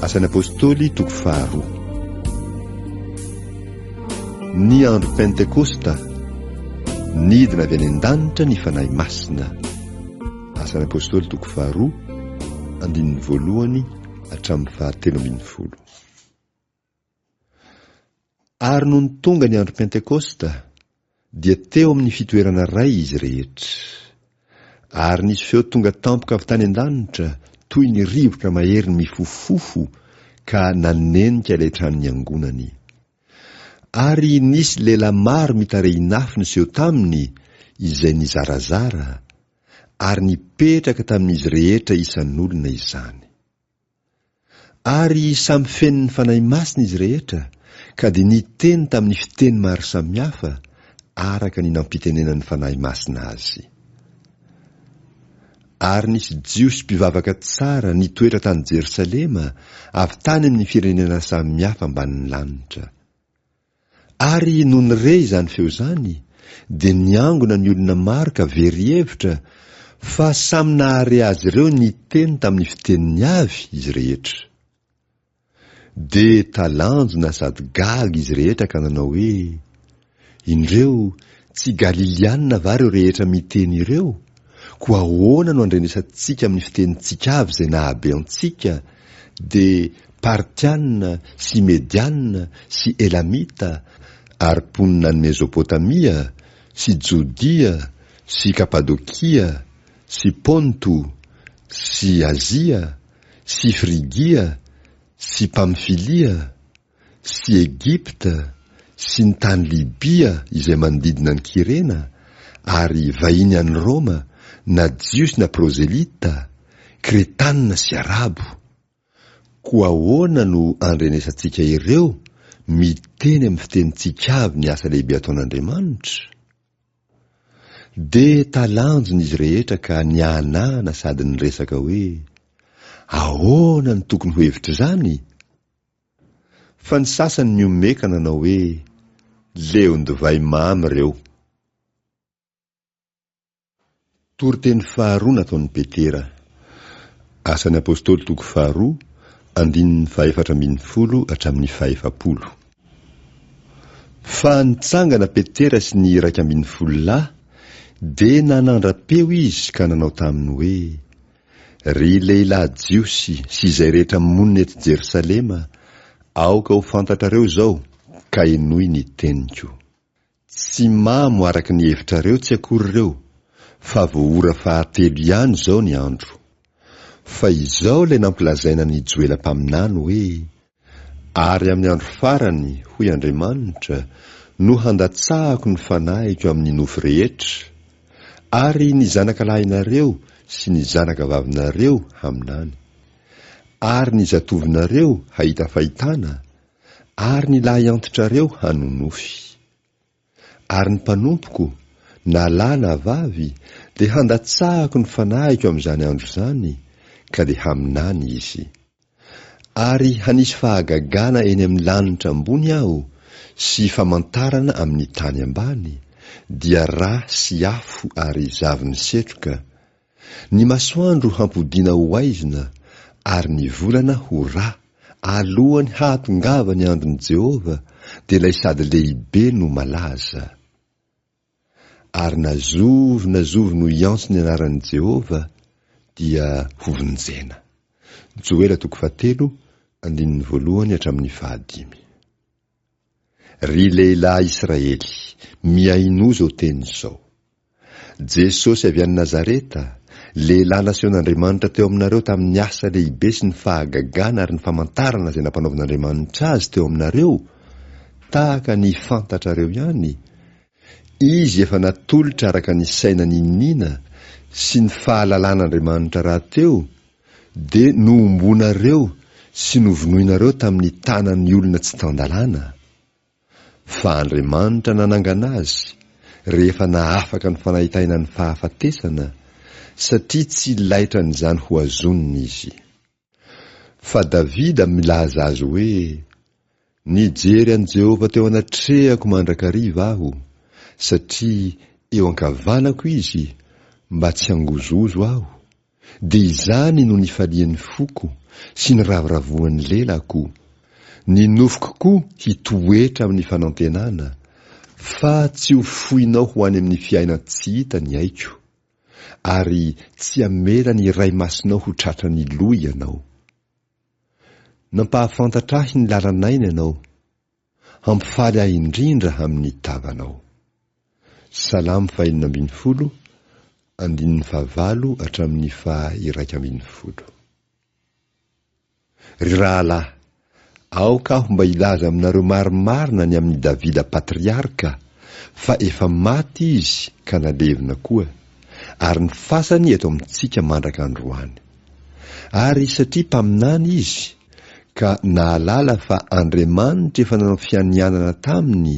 Asan'ny Apôstôly toko faharoa. Ny andro Pentekosta, nidina avy any an-danitra ny Fanahy Masina. Asan'ny Apôstôly toko faharoa, andininy voalohany hatramin'ny fahatelo ambin'ny folo. Ary nony tonga ny andro Pentekosta, dia teo amin'ny fitoerana iray izy rehetra. Ary nisy feo tonga tampoka avy tany an-danitra toy ny rivotra mahery mifofofofo ka nanenika ilay trano niangonany. Ary nisy lehilahy maro mitarehin'afo niseho taminy izay nizarazara, ary nipetraka tamin'izy rehetra isan'olona izany. Ary samy feno ny Fanahy Masina izy rehetra, ka dia niteny tamin'ny fiteny maro samihafa, araka ny nampitenenan'ny Fanahy Masina azy. Ary nisy Jiosy mpivavaka tsara nitoetra tany Jerosalema, avy tany amin'ny firenena samihafa ambanin'ny lanitra. Ary nony re izany feo izany dia niangona ny olona maro ka very hevitra fa samy nahare azy ireo niteny tamin'ny fiteniny avy izy rehetra. Dia talanjona sady gaga izy rehetra ka nanao hoe, Indreo, tsy Galiliana va ireo rehetra miteny ireo? Koa ahoana no andrenesantsika amin'ny fitenintsika avy izay nahabe antsika, dia Partiana sy Mediana sy Elamita, ary mponina any Mezopotamia, sy Jodia, sy Kapadokia, sy Ponto, sy Azia, sy Frigia, sy Pamfilia, sy Egypta sy ny tany Libia izay manodidina an'i Kyrena, ary vahiny any Roma, na Jiosy na Prozelita, Kretanina sy Arabo. Koa ahoana no andrenesantsika ireo, miteny amin'ny fitenintsika avy ny asa lehibe ataon'Andriamanitra? Dia talanjona izy rehetra ka nihanahana sady niresaka hoe, Ahoana no tokony ho hevitr'izany? Fa ny sasany mihomehy ka nanao hoe, Leon-divay mamy ireo. Toriteny faharoa nataon'i Petera. Asan'ny Apostoly toko faharoa, andininy fahefatra ambin'ny folo hatramin'ny fahefapolo. Fa nitsangana Petera sy ny iraika ambin'ny folo lahy, dia nanandra-peo izy ka nanao taminy hoe, Ry lehilahy Jiosy sy izay rehetra monina eto Jerosalema, aoka ho fantatrareo izao, ka henoy ny teniko. Tsy mamo araka ny hevitrareo tsy akory ireo, fa vao ora fahatelo ihany izao ny andro. Fa izao ilay nampilazaina ny Joela mpaminany hoe, Ary amin'ny andro farany, hoy Andriamanitra, no handatsahako ny Fanahiko amin'ny nofo rehetra, ary ny zanaka lahinareo sy ny zanaka vavinareo haminany, ary ny zatovinareo hahita fahitana, ary ny lahiantitrareo hanonofy. Ary ny mpanompoko, na lahy na vavy, dia handatsahako ny fanahiko amin'izany andro izany, ka dia haminany izy. Ary hanisy fahagagana eny amin'ny lanitra ambony Aho, sy famantarana amin'ny tany ambany, dia ra sy afo ary zavon'ny setroka, Ny masoandro hampodiana ho haizina ary ny volana ho rà, alohan'ny hahatongavan'ny andron'i Jehovah, dia ilay sady lehibe no malaza. Ary na zovy na zovy no hiantso ny anaran'i Jehovah, dia hovonjena. Joela toko fahatelo, andininy voalohany hatramin'ny fahadimy. Ry lehilahy Israely, mihainoa izao teny izao. Jesosy avy any Nazareta, lehilahy nasehon'Andriamanitra teo aminareo tamin'ny asa lehibe sy ny fahagagana ary ny famantarana izay nampanaovin'Andriamanitra Azy teo aminareo, tahaka ny fantatrareo ihany, Izy efa natolotra araka ny saina niniana sy ny fahalalan'Andriamanitra rahateo, Dia nohomboanareo sy novonoinareo tamin'ny tanan'ny olona tsy tan-dalàna? Fa Andriamanitra nanangana azy rehefa nahafaka ny fanahitaina ny fahafatesana, satria tsy laitran'izany hohazonina izy. Fa Davida milaza azy hoe, Nijery an'i Jehovah teo anatrehako mandrakariva aho, satria eo ankavanako izy, mba tsy hangozohozo aho, dia izany no nifalian'ny foko, sy niravoravoan'ny lelako. Ny nofoko koa hitoetra amin'ny fanantenana, fa tsy ho foinao ho any amin'ny fiainan-tsy hita ny aiko, ary tsy hamela ny iray masinao ho tratran'ny loha ianao. Nampahafantatra ahy ny lalanay ny Anao, hampifaly ahy indrindra amin'ny tavanao. Salamo fahenina ambin'ny folo, andininy fahavalo hatramin'ny faha iraika ambin'ny folo. Ry rahalahy, aoka aho mba hilaza aminareo marimarina ny amin'i Davida patriarka, fa efa maty izy ka nalevina koa, ary ny fasany eto amintsika mandraka androany. Ary satria mpaminany izy, ka nahalala fa Andriamanitra efa nanao fianianana taminy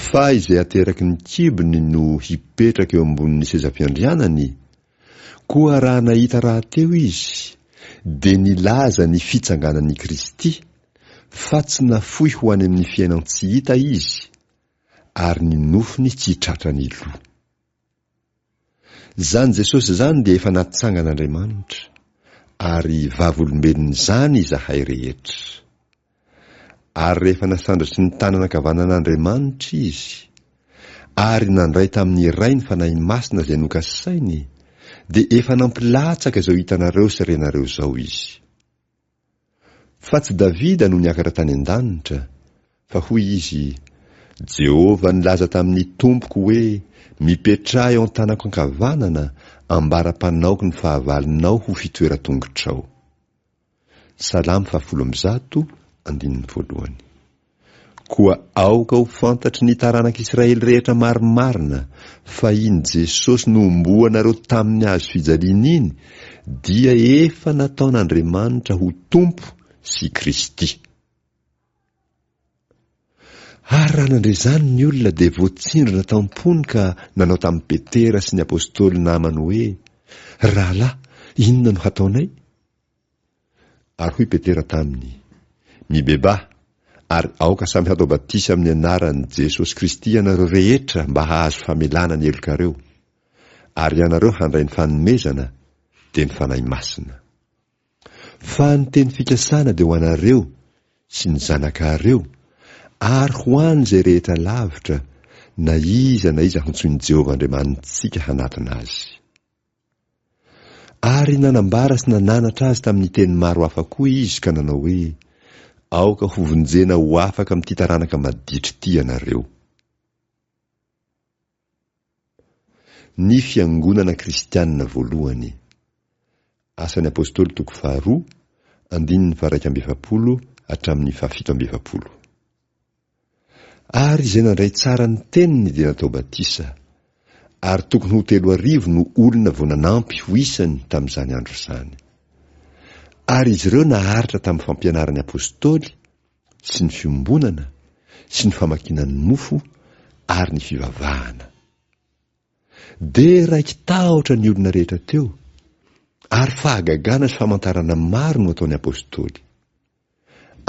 fa izay ateraky ny kibony no hipetraka eo ambonin'ny sezam-piandrianany, koa raha nahita rahateo izy, dia nilaza ny fitsanganan'i Kristy, fa tsy nafoy ho any amin'ny fiainan-tsy hita izy, ary ny nofony tsy tratran'ny loha. Izany Jesosy izany dia efa natsangan'Andriamanitra, ary vavolombelon'izany izahay rehetra. Ary rehefa nasandratry ny tanana ankavanan'Andriamanitra Izy, ary nandray tamin'ny Ray ny Fanahy Masina izay nokasainy, dia efa nampilatsaka izao hitanareo sy renareo izao Izy. Fa tsy Davida no niakatra tany an-danitra, fa hoy izy, Jehovah nilaza tamin'ny Tompoko hoe, Mipetraha eo an-tanako ankavanana, ambara-panaoko ny fahavalonao ho fitoeran-tongotrao. Salamo fahafolo amby zato, andininy voalohany. Koa aoka ho fantatry ny taranak'Israely rehetra marimarina fa iny Jesosy nohomboanareo tamin'ny hazo fijaliana iny dia efa nataon'Andriamanitra ho Tompo sy Kristy. Ary raha nandre izany ny olona dia voatsindrona tam-pony ka nanao tamin'i Petera sy ny apostoly namany hoe, Rahalahy, inona no hataonay? Ary hoy Petera taminy, Mibebaha, ary aoka samy hatao batisa amin'ny anaran'i Jesosy Kristy ianareo rehetra mba hahazo famelana ny helokareo, ary ianareo handray ny fanomezana, dia ny Fanahy Masina. Fa ny teny fikasana dia ho anareo, sy ny zanakareo, ary ho an'izay rehetra lavitra, na iza na iza hantsoin'i Jehovah Andriamanitsika hanatona azy. Ary nanambara sy nananatra azy tamin'ny teny maro hafa koa Izy ka nanao hoe, Aoka hovonjena ho afaka amin'ity taranaka maditra ity ianareo. Ny Fiangonana Kristianina Voalohany. Asan'ny Apôstôly toko faharoa, andininy faharaika amby efapolo hatramin'ny fahafito amby efapolo. Ary izay nandray tsara ny teniny dia natao batisa. Ary tokony ho telo arivo no olona vao nanampy ho isany tamin'izany andro izany. Ary izy ireo naharitra tamin'ny fampianaran'ny Apôstôly, sy ny fiombonana, sy ny famakiana ny mofo, ary ny fivavahana. Dia raiki-tahotra ny olona rehetra teo, ary fahagagana sy famantarana maro no ataon'ny Apôstôly.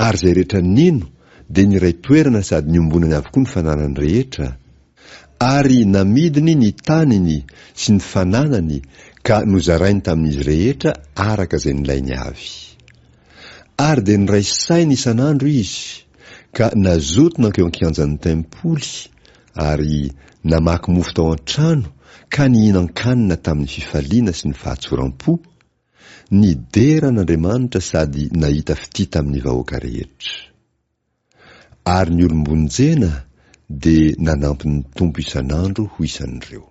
Ary izay rehetra nino dia niray toerana sady niombonany avokoa ny fananany rehetra, ary namidiny ny taniny sy ny fananany ka nozarainy tamin'izy rehetra araka izay nilainy avy. Ary dia niray saina isan'andro izy, ka nazoto nankeo an-kianjan'ny tempoly, ary namaky mofo tao an-trano ka nihinan-kanina tamin'ny fifaliana sy ny fahatsoram-po, Nidera an'Andriamanitra sady nahita fitia tamin'ny vahoaka rehetra. Ary ny olom-bonjena dia nanampy ny Tompo isan'andro ho isan'ireo.